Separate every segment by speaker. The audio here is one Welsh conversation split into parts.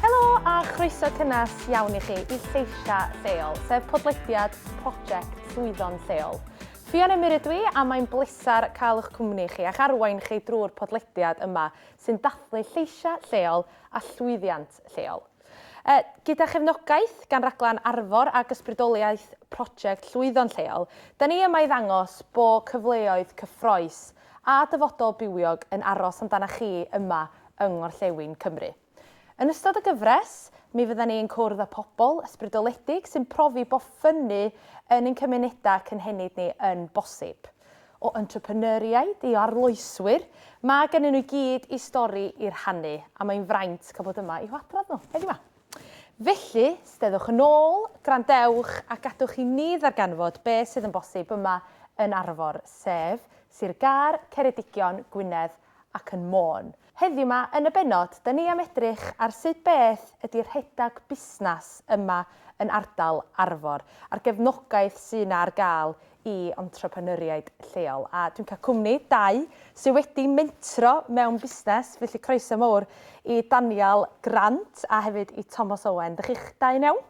Speaker 1: Helo a chroeso cynnes iawn i chi i Lleisiau Lleol, sef podlediad Project Llwyddo'n Lleol. Ffion Emyr ydw i a mae'n bleser cael eich cwmni chi a'ch arwain chi drwy'r podlediad yma sy'n dathlu lleisiau lleol a llwyddiant lleol. Yy, gyda chefnogaeth gan Raglen Arfor ac ysbrydoliaeth Prosiect Llwyddo'n Lleol, 'da ni yma i ddangos bo' cyfleoedd cyffrous a dyfodol bywiog yn aros amdanach chi yma yng Ngorllewin Cymru. Yn ystod y gyfres, mi fyddan ni yn cwrdd â pobl ysbrydoledig sy'n profi bo' ffynnu yn ein cymunedau cynhenid ni yn bosib. O entrepreneuriaid i arloeswyr, mae gennyn nhw i gyd i stori i rhannu a mae'n fraint cael bod yma i'w hadrodd nhw, heddiw 'ma. Felly, steddwch yn ôl, gwrandewch a gadwch i ni ddarganfod be sydd yn bosib yma yn Arfor, sef Sir Gâr, Ceredigion, Gwynedd ac yn Môn. Heddiw 'ma yn y bennod, 'da ni am edrych ar sut beth ydi rhedag busnas yma yn ardal Arfor, a'r gefnogaeth sy' 'na ar gael i entrepreneuriaid lleol. A dwi'n cael cwmni dau sy' wedi mentro mewn busnes, felly croeso mowr i Daniel Grant a hefyd i Tomos Owen. Dych chi'ch dau yn iawn?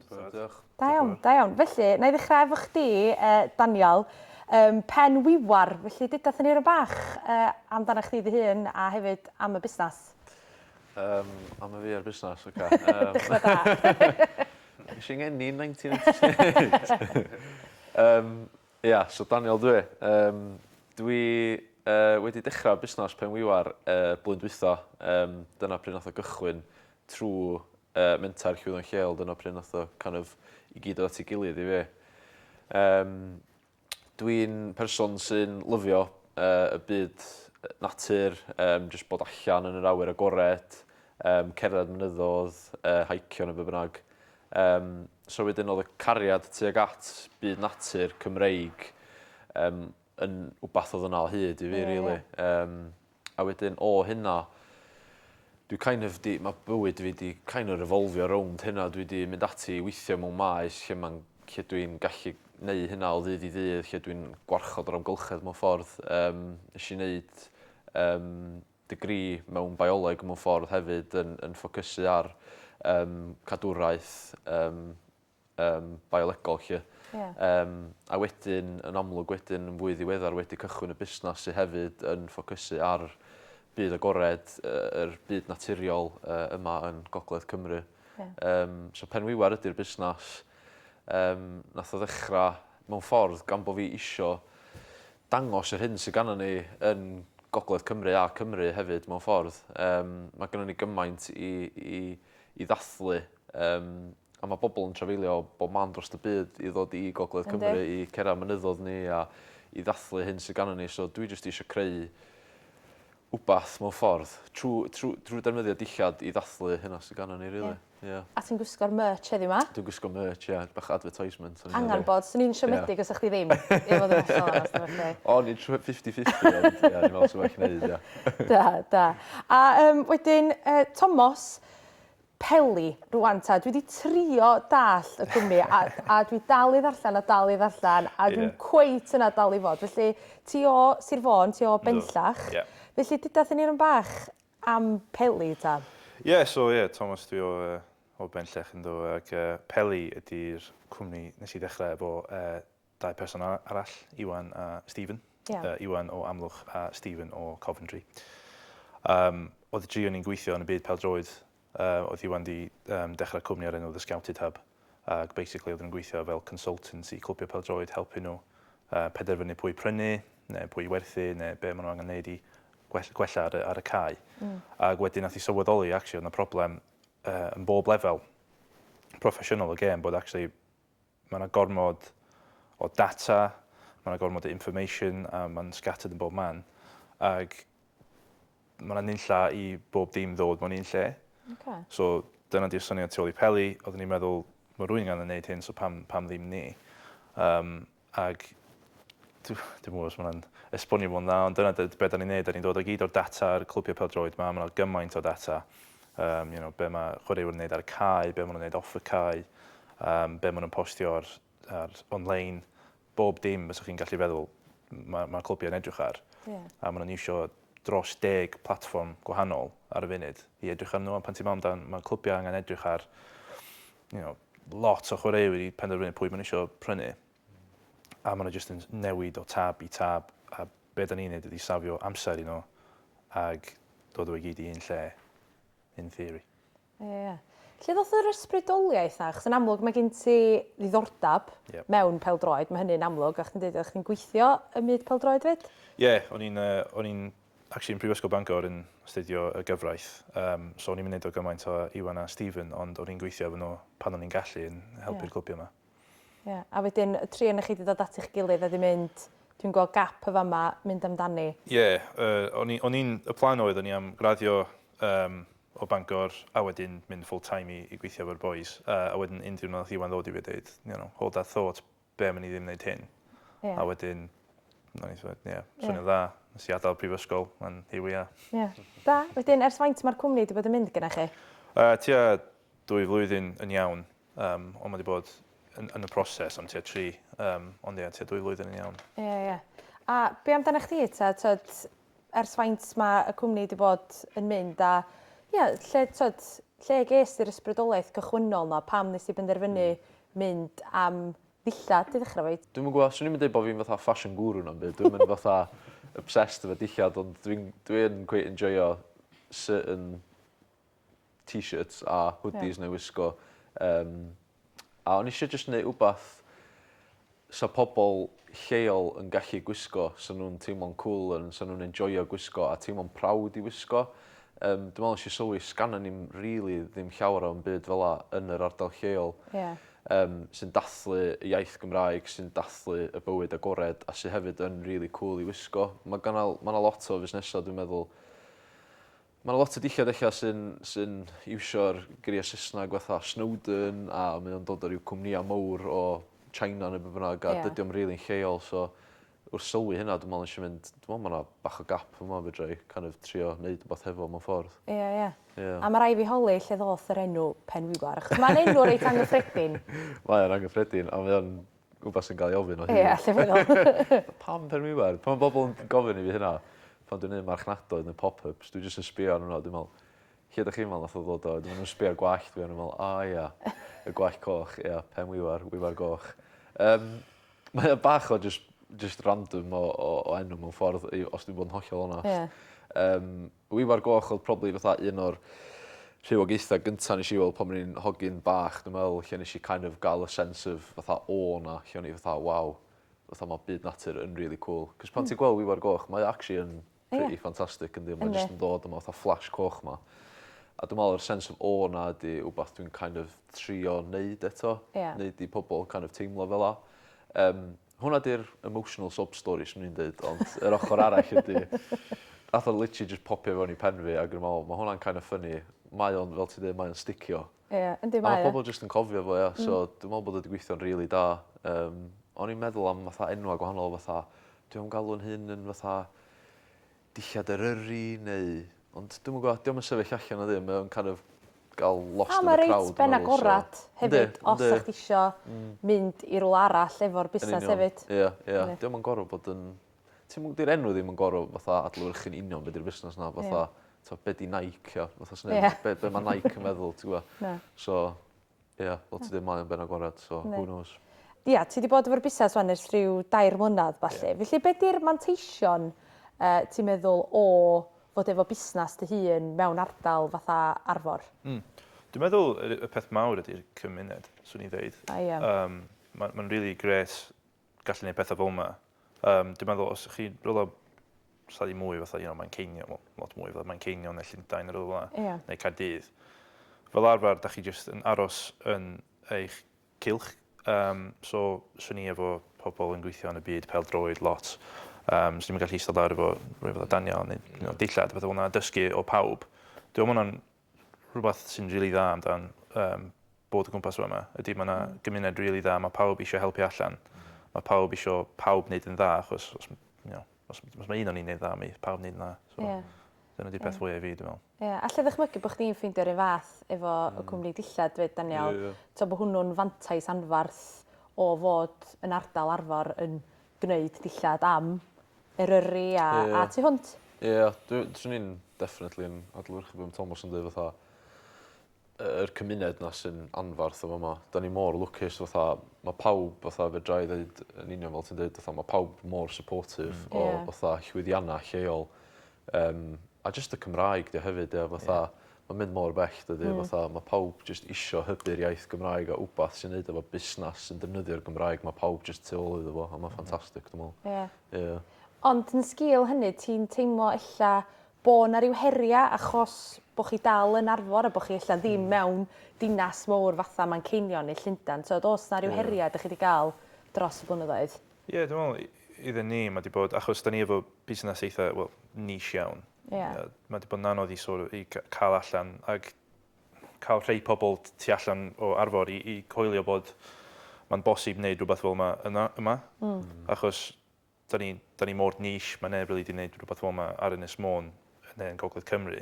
Speaker 1: Diolch. Da iawn, da iawn. Felly, na i ddechrau efo chdi, uh, Daniel. Um, pen wiwar, felly dyda thyn ni rhywbeth bach uh, amdana chdi dy hun a hefyd am y busnes. Um,
Speaker 2: am y fi ar busnes, oce. Okay. Um,
Speaker 1: Dechrau da. Nes i'n enni
Speaker 2: 1998. um, ia, so Daniel dwi. Um, dwi uh, wedi dechrau busnes pen wiwar uh, blwyddyn dwytho. Um, dyna pryd nath o gychwyn. trwy yy menter llwyddo'n lleol dyna pryd nath o kind of i gyd dod at ei gilydd i fi. Yym dwi'n person sy'n lyfio yy y byd yy natur yym jyst bod allan yn yr awyr agored yym cerdded mynyddo'dd yy haicio ne' be' bynnag. Yym so wedyn o'dd y cariad tuag at byd natur Cymreig yym yn wbath o'dd yna o hyd i fi rili. Yym. A wedyn o hynna dwi kind of 'di... Ma' bywyd fi 'di kind of revolfio rownd hynna. Dwi 'di mynd ati i weithio mewn maes lle ma'n lle dwi'n gallu neu' hynna o ddydd i ddydd lle dwi'n gwarchod yr amgylchedd mewn ffordd. Yym nesh i neud yym degree mewn bioleg mewn ffordd hefyd yn yn ffocysu ar yym cadwraeth yym yym biolegol 'lly. Ie. Yym a wedyn yn amlwg wedyn yn fwy ddiweddar wedi cychwyn y busnas sy hefyd yn ffocysu ar byd agored yy yr byd naturiol yy yma yn gogledd Cymru. Ie. Yym so Penwiwer ydi'r busnas yym nath o ddechra mewn ffordd gan bo' fi isio dangos yr hyn sy gannon ni yn gogledd Cymru a Cymru hefyd mewn ffordd. Yym ma' gynnon ni gymaint i i i ddathlu yym A ma' bobol yn trafeilio o bob man drost y byd i ddod i gogledd Cymru... Yndi. ...i cera mynyddodd ni a i ddathlu hyn sy ganon ni so dwi jyst isio creu wbath mewn ffordd trw trw drw defnyddio dillad i ddathlu hynna sy ganon ni rili. Ie. Ie. A ti'n gwisgo'r
Speaker 1: merch heddiw 'ma. Dwi'n gwisgo merch ie
Speaker 2: bach o advertisement o'n i meddwl. Angan bod swn i'n
Speaker 1: siomedig os sa chdi ddim i fod yn hollol
Speaker 2: onest efo chdi. O'n i'n trio fifty fifty ond ie o'n i'n me'wl sa well neud ie. Da da. A
Speaker 1: yym wedyn yy Tomos Peli, rwan ta, dwi 'di trio dallt y cwmni a a dwi dal i ddarllen a dal i ddarllen a dwi'm cweit yna dal i fod. Felly, ti o Sir Fôn, ti o Benllach. Yndw, ie. Felly, deuda 'thyn ni run bach am Peli ta. Ie, so ie, Tomos
Speaker 3: dwi o yy o Benllech yndw ag yy Peli ydi'r cwmni nes i ddechre efo yy Dau person arall, Iwan a Stephen. Yeah. Uh, Iwan o Amlwch a Stephen o Coventry. Um, oedd y dri o'n i'n gweithio yn y byd peldroed, uh, oedd Iwan di um, dechrau cwmni ar enw The Scouted Hub, ac basically oedd yn gweithio fel consultant i clwbio peldroed, helpu nhw uh, penderfynu pwy prynu, neu pwy werthu, neu be maen nhw angen neud i gwella ar, ar y cae. Mm. Ac wedyn nath i sylweddoli, actually, oedd yna problem uh, yn bob lefel proffesiynol o gêm, bod actually Mae yna gormod o data, mae yna gormod o information a mae'n scattered yn bob man. Ac mae yna nunlla i bob dim ddod mewn un lle. Okay. So dyna di'r syniad tu ôl i Peli, oeddwn i'n meddwl mae rwy'n gan yn neud hyn so pam, pam ddim ni? Um, ac dwi'n mwyn os mae'n esbonio fo'n dda, ond dyna beth da ni'n neud, da ni'n dod o gyd o'r data ar y clwbiau peldroed ma, mae yna gymaint o data Yym, you know, be' ma' chwaraewyr yn neud ar y cae, be' ma' nw'n neud off y cae, yym, be' ma' nw'n postio ar ar online, bob dim fyswch chi'n gallu feddwl ma' ma' clybiau'n edrych ar. Ie. A ma' nw'n iwsio dros deg platfform gwahanol ar y funud i edrych arnyn nhw a pan ti'n me'wl amdan ma' clybiau angen edrych ar you know lot o chwaraewyr i penderfynu pwy ma' n'w isio prynu. a maen nhw jyst yn newid o tab i tab, a be da ni'n neud ydi safio amser i nhw ag dod o i gyd i un lle, in theory. Ie, ie.
Speaker 1: Lle ddoth yr ysbrydoliaeth 'na? Achos yn amlwg mae gen ti ddiddordeb Yep. mewn pêl-droed, mae hynny'n amlwg, a chdi'n deud oeddech chdi'n gweithio ym myd pêl-droed 'fyd? Ie, o'n i'n yy
Speaker 3: o'n i'n actually yn Prifysgol Bangor yn astudio y gyfraith, yym so o'n i'm yn neud o gymaint â Iwan a Stephen ond o'n i'n gweithio efo nhw pan o'n i'n gallu yn helpu'r clybiau 'ma. Ie, a wedyn
Speaker 1: y tri onoch chi 'di dod at eich gilydd a 'di mynd, 'dwi'n gweld gap yn fama, mynd amdani'. Ie, yy,
Speaker 3: o'n i'n, y plan oedd o'n i am graddio yym o Bangor a wedyn mynd full time i i gweithio efo'r bois a a wedyn un diwrnod nath Iwan ddod i fi a deud, you know, hold that thought, be' am i ni ddim neud hyn? Ie. A wedyn o'n i fatha ie, swnio'n dda. Nes i adal prifysgol and here we are. Ie. Da. Wedyn
Speaker 1: ers faint ma'r cwmni 'di bod yn mynd gynnoch chi? Yy tua
Speaker 3: dwy flwyddyn yn iawn. Yym, ond mae wedi bod yn, yn y proses am tua tri, um, ond ie, tua dwy flwyddyn yn iawn. Ie, yeah, ie. Yeah. A
Speaker 1: be amdana chdi, ta, tyd, ers faint mae y cwmni wedi bod yn mynd, a ie, yeah, lle, tyd, lle ges i'r ysbrydoliaeth cychwynnol na, pam nes i benderfynu mm. mynd am ddillad i ddechrau fyd? Dwi'n gwybod, swn i'n dweud bod fi'n
Speaker 2: fatha fashion guru na'n byd, dwi'n mynd fatha obsessed efo dillad, ond dwi'n dwi cweith enjoyo certain t-shirts a hoodies yeah. neu wisgo. Um, a o'n eisiau jyst gwneud wbath sa pobl lleol yn gallu gwisgo, sa nhw'n teimlo'n cool, yn, sa nhw'n enjoyo gwisgo a teimlo'n prawd i wisgo. Um, dwi'n meddwl eisiau sylwi, sganna ni'n really ddim llawer o'n byd fel la yn yr ardal lleol. Yeah. Um, sy'n dathlu y iaith Gymraeg, sy'n dathlu y bywyd agored a sy'n hefyd yn really cool i wisgo. Mae yna ma lot o fusnesau, dwi'n meddwl, Ma' 'na lot o dillad ella sy'n sy'n iwsio'r geiriau Saesneg fatha Snowdon a mae o'n dod o ryw cwmnïau mowr o China ne' be' bynnag a... Ie. ...dydi o'm rili'n lleol so wrth sylwi hynna dwi me'wl nesh i mynd dwi me'wl ma' 'na bach o gap fyma fedra i kind of trio neud wbath hefo mewn ffordd. Ie ie. Ie. A ma'
Speaker 1: rai' fi holi lle ddoth yr enw Penwibar achos ma'n enw reit angyffredin. Mae o'n angyffredin
Speaker 2: a mae o'n wbath sy'n cael ei ofyn o hyd. Ie, allai feddwl.
Speaker 1: Pam pen wiwer?
Speaker 2: Pan mae bobl yn gofyn i fi hynna, pan dwi'n neud marchnadoedd neu pop-ups, dwi jyst yn sbio arnyn nhw a dwi'n meddwl, lle ydych chi'n meddwl nath o ddod o? Dwi'n nhw'n sbio ar gwallt fi a nhw'n meddwl, o ia, y gwallt coch, ia, pen wiwer, wiwer goch. Um, mae o bach o just, just random o, o, o enw mewn ffordd, os dwi'n bod yn hollol onast. Yeah. Um, Dwi Ifor Goch oedd probably fatha un o'r rhywogaethau gynta nes i weld pan o'n i'n hogyn bach dwi'n meddwl lle nes i kind of ga'l y sense of fatha awe 'na lle o'n i fatha waw fatha ma' byd natur yn rili cŵl. 'C'os pan ti'n gweld Ifor Goch mae o actually yn pretty fantastic yndi ond mae jyst yn dod efo fatha flash coch 'ma. A dwi me'wl yr sense of awe 'na ydi wbath dwi'n kind of trio neud eto. Neud i pobol kind of teimlo fel 'a. Yym. Hwnna 'di'r emotional sob story 'swn i'n deud ond yr ochr arall ydi nath o literally jyst popio fewn i pen fi ag o'n i'n me'wl ma' hwnna'n kind of funny. Mae o'n fel ti'n deud mae o'n sticio. Ie yndi mae o. A ma' pobol
Speaker 1: jyst yn
Speaker 2: cofio fo ia so dwi me'wl bod o 'di gweithio'n rili da. Yym o'n i'n meddwl am fatha enwa' gwahanol fatha dwi'm yn galw'n hun yn fatha dillad Eryri neu... ond dwi'm yn gwbo, 'di o'm yn sefyll allan o ddim mae o'n kind of ga'l lost in the crowd. A ma' reit ben agorad
Speaker 1: hefyd os 'sach chdi isio mynd i rwla arall efo'r busnas hefyd. Yn union, ia ia. 'Di o'm yn gor'o'
Speaker 2: bod yn... ti'm yn... 'di'r enw ddim yn gor'o' fatha adlewyrchu'n union be' 'di'r busnas 'na fatha t'o' be' 'di Nike a fatha swn i fatha be' be' ma' Nike yn meddwl ti gwo? Na. So Ia, fel ti deu mae o'n ben agored so who knows. Ia, ti 'di bod
Speaker 1: efo'r busnes wan ers rhyw dair mlynedd ballu. Felly be 'di'r manteision yy ti'n meddwl o fod efo busnes dy hun mewn ardal fatha Arfor? Hmm. Dwi'n meddwl
Speaker 3: y y peth mawr ydi'r cymuned, swn i'n ddeud. A ia. Yym ma' ma'n rili grêt gallu neud petha fel yma. Um, dwi'n meddwl, os ych chi rhywle lle i mwy fatha, you know, Manceinion, well, lot mwy fatha Manceinion neu Llundain neu rhywle, yeah. neu Caerdydd, fel arfer, da chi jyst yn aros yn eich cilch. Um, so, swn i efo pobl yn gweithio yn y byd pel droed lot. Um, so, ni'n gallu eistedd lawr efo rhywbeth o danio neu you know, dillad, beth o'na, dysgu o pawb. Dwi'n meddwl hwnna'n rhywbeth sy'n rili dda amdan um, bod o gwmpas yma ydy mae yna mm. gymuned rili really dda, mae pawb eisiau helpu allan. Mae pawb eisiau pawb wneud yn dda, achos os, you know, os, os mae un o'n i'n wneud dda, mae pawb wneud yn dda. So, yeah. Dyna di peth yeah. fwyaf i fi, dwi'n meddwl. Ie, yeah. allai ddychmygu bod chdi'n
Speaker 1: ffeindio rhywun fath efo mm. y cwmni dillad, dweud Daniel. Yeah, yeah. To bod hwnnw'n fantais anfarth o fod yn ardal arfer yn gwneud dillad am Eryri a... Ie. ...a tu hwnt. Ie
Speaker 2: dwi swn i'n definitely yn adlewyrchu
Speaker 1: be' ma'
Speaker 2: Tomos yn deu' fatha yy yr cymuned 'na sy'n anfarth yn fama. 'Dan ni mor lwcus fatha ma' pawb fatha fedrai ddeud yn union fel ti'n deud fatha ma' pawb mor supportive... Hmm. Ie. ...o fatha llwyddianna lleol Yym a jyst y Cymraeg 'di o hefyd ie fatha ma'n mynd mor bell dydi fatha ma' pawb jyst isio hybu'r iaith Gymraeg a wbath sy'n neud efo busnas sy'n defnyddio'r Gymraeg ma' pawb jyst tu ôl iddo fo a ma'n ffantastic dwi me'wl. Ie. Ie. Ond yn
Speaker 1: sgil hynny ti'n teimlo ella bo' 'na ryw heria' achos bo' chi dal yn Arfor a bo' chi ella ddim mewn dinas mowr fatha Manceinion neu Llundan t'od o's 'na ryw heria' 'dych chi 'di ga'l dros y blynyddoedd? Ie dwi'n meddwl
Speaker 3: iddyn ni mae wedi bod, achos da ni efo busnes eitha, wel, niche iawn. Ie. Mae wedi bod yn anodd i, sort of, i cael allan ac cael rhai pobl tu allan o Arfor i, i coelio bod mae'n bosib wneud rhywbeth fel yma yna, yma. Mm. Achos da ni, da ni mor niche, mae neb really wedi gwneud rhywbeth fel yma ar Ynys Môn neu yn Gogledd Cymru.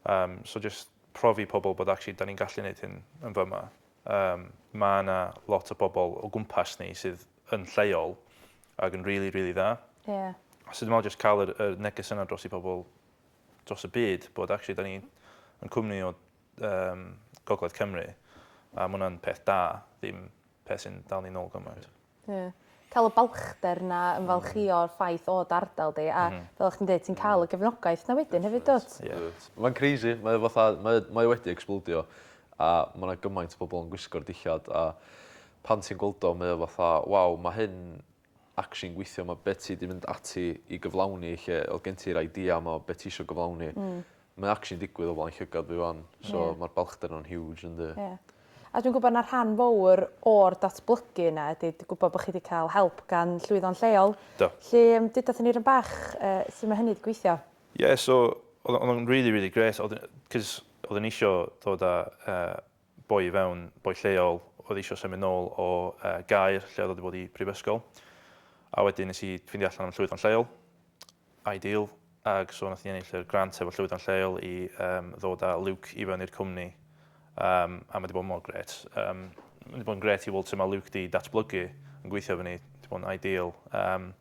Speaker 3: Um, so just profi pobl bod actually da ni'n gallu gwneud hyn yn fyma. Yym, ma' 'na lot o bobl o gwmpas ni sydd yn lleol ac yn rili, rili dda. Ie. So dwi me'wl jyst ca'l yr yr neges yna dros i pobl dros y byd bod actually 'dan ni yn cwmni o yym gogledd Cymru a ma' wnna'n peth da, ddim peth sy'n dal ni nôl gymaint. Ie. Ca'l y
Speaker 1: balchder 'na ymfalchïo o'r ffaith o dy ardal di a... M-hm. ...fel o' chdi'n deud ti'n ca'l y gefnogaeth 'na wedyn hefyd dw't? Ie. Wyt. Mae'n crazy
Speaker 2: mae o fatha mae o mae o wedi ecsblowdio a ma' 'na gymaint o bobol yn gwisgo'r dillad a pan ti'n gweld o mae o fatha waw ma' hyn actually'n gweithio ma' be' ti 'di mynd ati i gyflawni lle o'dd gen ti'r idea 'ma o be' ti isio gyflawni... Hmm. Mae actually'n digwydd o flaen llygad fi 'wan so... Ie. ...ma'r balchder 'na'n huge yndi? Ie. A dwi'n gwbo na
Speaker 1: rhan fowr o'r datblygu yna ydi d- gwbo bo' chi 'di ca'l help gan llwyddo'n lleol. Do. 'Lly yym
Speaker 3: deuda 'thon ni
Speaker 1: run bach yy su' ma' hynny 'di gweithio? Ie so o'dd
Speaker 3: o o'dd o'n rili rili grêt o'dd yy 'c'os o'dd e'n isio dod â yy boi i fewn, boi lleol o'dd isio symud nôl o yy Gaer lle o'dd o 'di bod i brifysgol a wedyn nes i ffindio allan am llwyddo'n lleol Ideal ac so nath ni ennill yr grant efo llwyddon lleol i yym ddod a Luke i fewn i'r cwmni yym a ma' 'di bod mor grêt yym ma' 'di bod yn grêt i weld su' ma' Luke 'di datblygu yn gweithio efo ni 'di bod yn ideal yym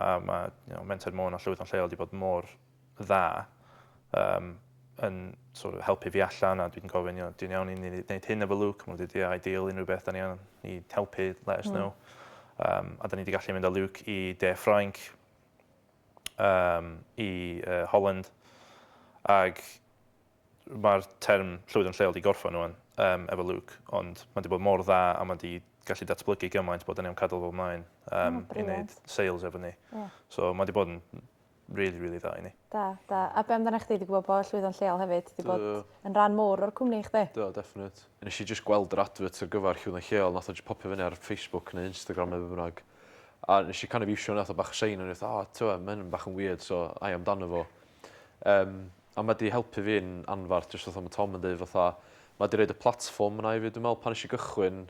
Speaker 3: a ma' you know Menter Môn a llwyddon lleol 'di bod mor dda yym yn so' of helpu fi allan a dwi'n gofyn you know ti'n iawn i ni neud hyn efo Luke ma' n'w deud ia ideal unryw beth 'da ni angan i helpu let us know. Yym a 'da ni 'di gallu mynd â Luke i de Ffrainc um, i uh, Holland, ac mae'r term llwyd yn lleol di gorffan nhw'n um, efo Luke, ond mae wedi bod mor dda a mae wedi gallu datblygu gymaint bod yn iawn cadw fel mlaen um, oh, i wneud sales efo ni. Yeah. So mae wedi bod yn really, really dda i ni. Da, da. A be amdana
Speaker 1: chdi wedi gwybod bod llwyddo'n lleol hefyd? Wedi bod yn rhan mowr o'r cwmni i chdi? Do, definite.
Speaker 2: Nes i just gweld yr advert ar gyfer llwyddo'n lleol, nath o'n just popio fyny ar Facebook neu Instagram neu beth bynnag. A nes i kind of iwsio hwnna fatha bach o sign o'n i fatha o t'mo' ma' hyn bach yn wierd so ai amdano fo. Yym a ma' 'di helpu fi'n anfarth jyst fatha ma' Tom yn deud fatha ma' 'di roid y platfform yna i fi dwi me'wl pan nesh i gychwyn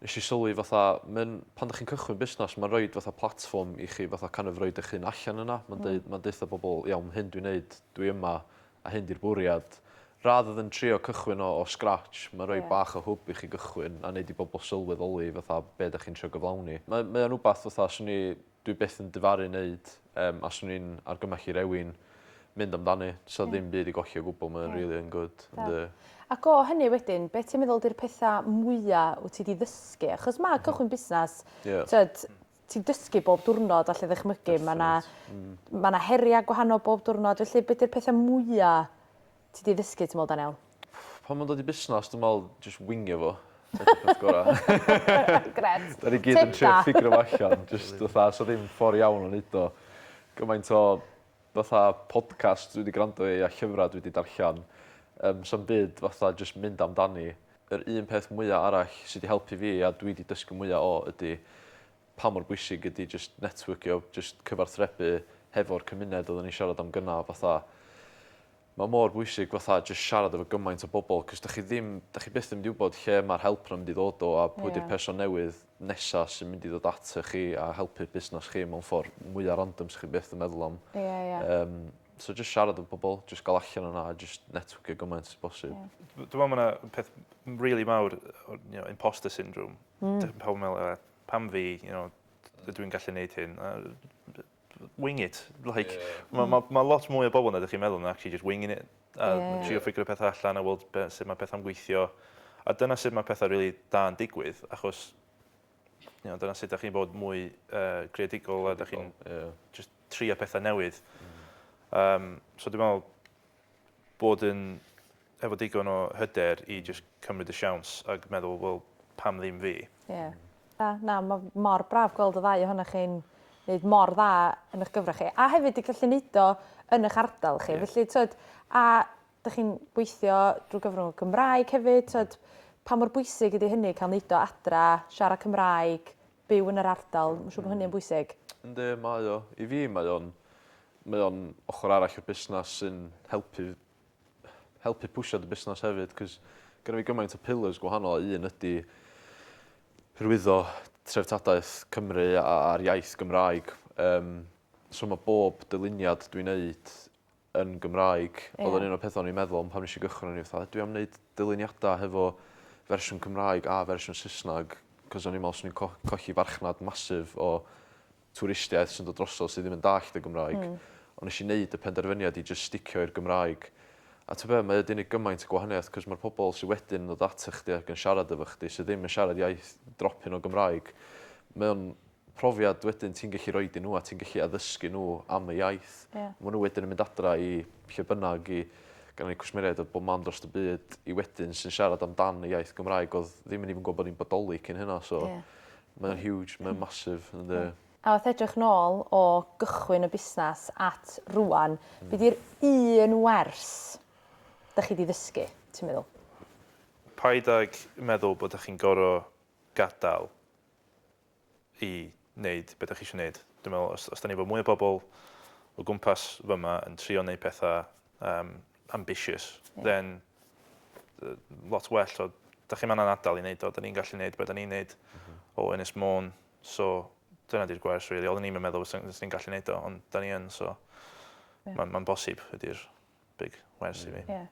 Speaker 2: nesh i sylwi fatha ma'n pan 'dych chi'n cychwyn busnas ma'n roid fatha platfform i chi fatha kind of roid 'ych hun allan yna ma'n deud ma'n deutha bobol iawn hyn dwi'n neud dwi yma A hyn di'r bwriad. Rather than trio cychwyn o o scratch, mae'n rhoi bach o hwb i chi gychwyn a wneud i bobl sylweddoli fatha be dach chi'n trio gyflawni. Mae mae o'n wbath fatha swn i dwi byth yn difaru neud yym a swn i'n argymell i rewin mynd amdani. Sa ddim byd i golli o gwbl mae o'n rili yn gwd. Ond yy... Ac o
Speaker 1: hynny wedyn, be ti'n meddwl di'r petha mwya wt ti di ddysgu? Achos ma' cychwyn busnas, t'od, ti'n dysgu bob diwrnod allai ddychmygu. Mae yna mm. ma na heriau gwahanol bob diwrnod, felly beth yw'r pethau mwyaf ti wedi ddysgu, ti'n meddwl, Daniel? Pan mae'n dod i
Speaker 2: busnes, dwi'n meddwl, just wingio fo. Gret.
Speaker 1: Da ni gyd yn trio
Speaker 2: ffigro fo allan, just fatha, so ddim ffordd iawn o'n neud o. Gymaint o fatha podcast dwi wedi gwrando i a llyfrau dwi wedi darllen, um, so'n byd fatha just mynd amdani. yr un peth mwya arall sy 'di helpu fi a dwi 'di dysgu mwya o ydi pa mor bwysig ydi jyst netwyrcio jyst cyfarthrebu hefo'r cymuned odda ni'n siarad am gynna fatha ma' mor bwysig fatha jyst siarad efo gymaint o bobol 'c'os 'dach chi ddim 'dach chi byth yn mynd i wbod lle ma'r help 'na mynd i ddod o a pwy 'di'r person newydd nesa sy'n mynd i ddod atoch chi a helpu'ch busnas chi mewn ffor mwya random 'sach chi byth yn meddwl am. Ie ie. Yym. So jyst siarad efo pobl, jyst gael allan yna a jyst networkio gymaint o bosib. Yeah. Dwi'n meddwl mae yna
Speaker 3: peth really mawr, you know, imposter syndrome. Mm. Dwi'n pawb meddwl, pam fi, you know, dwi'n gallu neud hyn. wing it. Like, yeah. Mae ma, ma lot mwy o bobl na ydych chi'n meddwl yn actually just winging it. A yeah. trio ffigur y pethau allan a weld sut mae pethau'n gweithio. A dyna sut mae pethau really da yn digwydd, achos you know, dyna sut ydych chi'n bod mwy uh, creadigol, a ydych chi'n yeah. just tri a pethau newydd. Mm. Um, so dwi'n meddwl bod yn efo digon o hyder i just cymryd y siawns ac meddwl, wel, pam ddim fi? Yeah. Na, na,
Speaker 1: mae mor braf gweld y ddau ohonoch chi'n wneud mor dda yn eich gyfrach chi. A hefyd i gallu wneud o yn eich ardal chi. Yeah. Felly, twyd, a dych chi'n gweithio drwy gyfrwng y Gymraeg hefyd, tyd, pa mor bwysig ydy hynny, cael neud o adra, siarad Cymraeg, byw yn yr ardal, mae'n siŵr bod hynny yn bwysig. Yndi, mae o.
Speaker 2: I fi, mae o'n mae o'n ochr arall i'r busnes sy'n helpu helpu pwysio dy busnes hefyd, cys gyda fi gymaint o pillars gwahanol, a un ydy hyrwyddo treftadaeth Cymru a'r iaith Gymraeg. Um, so mae bob dyluniad dwi'n neud yn Gymraeg. Ie. Odd o'n un o'r petha o'n i'n meddwl am pan nesh i gychwyn o'n i fatha dwi am neud dyluniada hefo fersiwn Cymraeg a fersiwn Sysnag 'c'os o'n i'n me'wl swn i'n co- colli farchnad massive o twristiaeth sy'n dod drosodd sy ddim yn dallt y Gymraeg. Hmm. On' nesh i neud y penderfyniad i jyst sticio i'r Gymraeg. A t'o' be' mae o 'di neud gymaint o gwahaniaeth 'c'os ma'r pobol sy wedyn yn dod atoch chdi ac yn siarad efo chdi sy ddim yn siarad iaith dropyn o Gymraeg mae o'n profiad wedyn ti'n gallu roid i nhw a ti'n gallu addysgu nhw am y iaith. Yeah. Mae nhw wedyn yn mynd adra i lle bynnag i gan ni cwsmeriaid o bob man dros y byd i wedyn sy'n siarad amdan y iaith Gymraeg oedd ddim yn even gwybod bod ni'n bodoli cyn hynna so yeah. mae'n yeah. huge, mae'n massive yn yeah. A wrth edrych
Speaker 1: nôl o gychwyn y busnes at rwan, mm. beth yw'r un wers da chi wedi ddysgu, ti'n meddwl? Paid
Speaker 3: ag meddwl bod ydych chi'n gorau gadael i wneud be dach chi eisiau wneud. Dwi'n meddwl, os, os da ni efo mwy o bobl o gwmpas fy yma yn trio wneud pethau um, ambitious, yeah. then uh, lot well o, da chi'n manna'n adal i wneud o, da ni'n gallu wneud be da ni'n wneud mm -hmm. o Ynys Môn, so dyna di'r gwers, really. Oedden ni'n meddwl fyswn ni'n gallu wneud o, ond da ni yn, so yeah. mae'n ma bosib ydy'r big wers yeah. i fi. Yeah.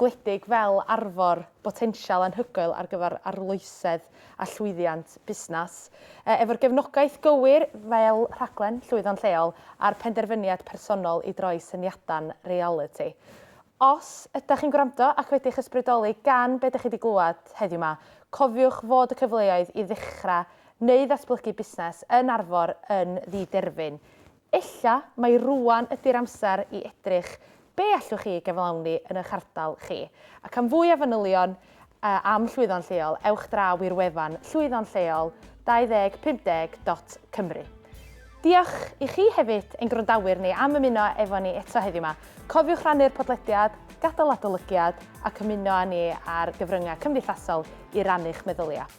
Speaker 1: gwledig fel arfor botensial anhygoel ar gyfer arloesedd a llwyddiant busnes. Efo'r gefnogaeth gywir fel rhaglen Llwyddo'n Lleol a'r penderfyniad personol i droi syniadau'n realiti. Os ydych chi'n gwrando ac wedi'ch ysbrydoli gan be dych chi 'di glywed heddiw 'ma, cofiwch fod y cyfleoedd i ddechrau neu ddatblygu busnes yn Arfor yn ddiderfyn. Ella mai rŵan ydi'r amser i edrych be allwch chi ei gyflawni yn eich ardal chi. Ac am fwy o fanylion am Llwyddo'n Lleol, ewch draw i'r wefan Llwyddo'n Lleol 2050 dot Cymru. Diolch i chi hefyd, ein gwrandawyr ni, am ymuno efo ni eto heddiw 'ma. Cofiwch rannu'r podlediad, gadael adolygiad ac ymuno â ni ar gyfryngau cymdeithasol i rannu'ch meddyliau.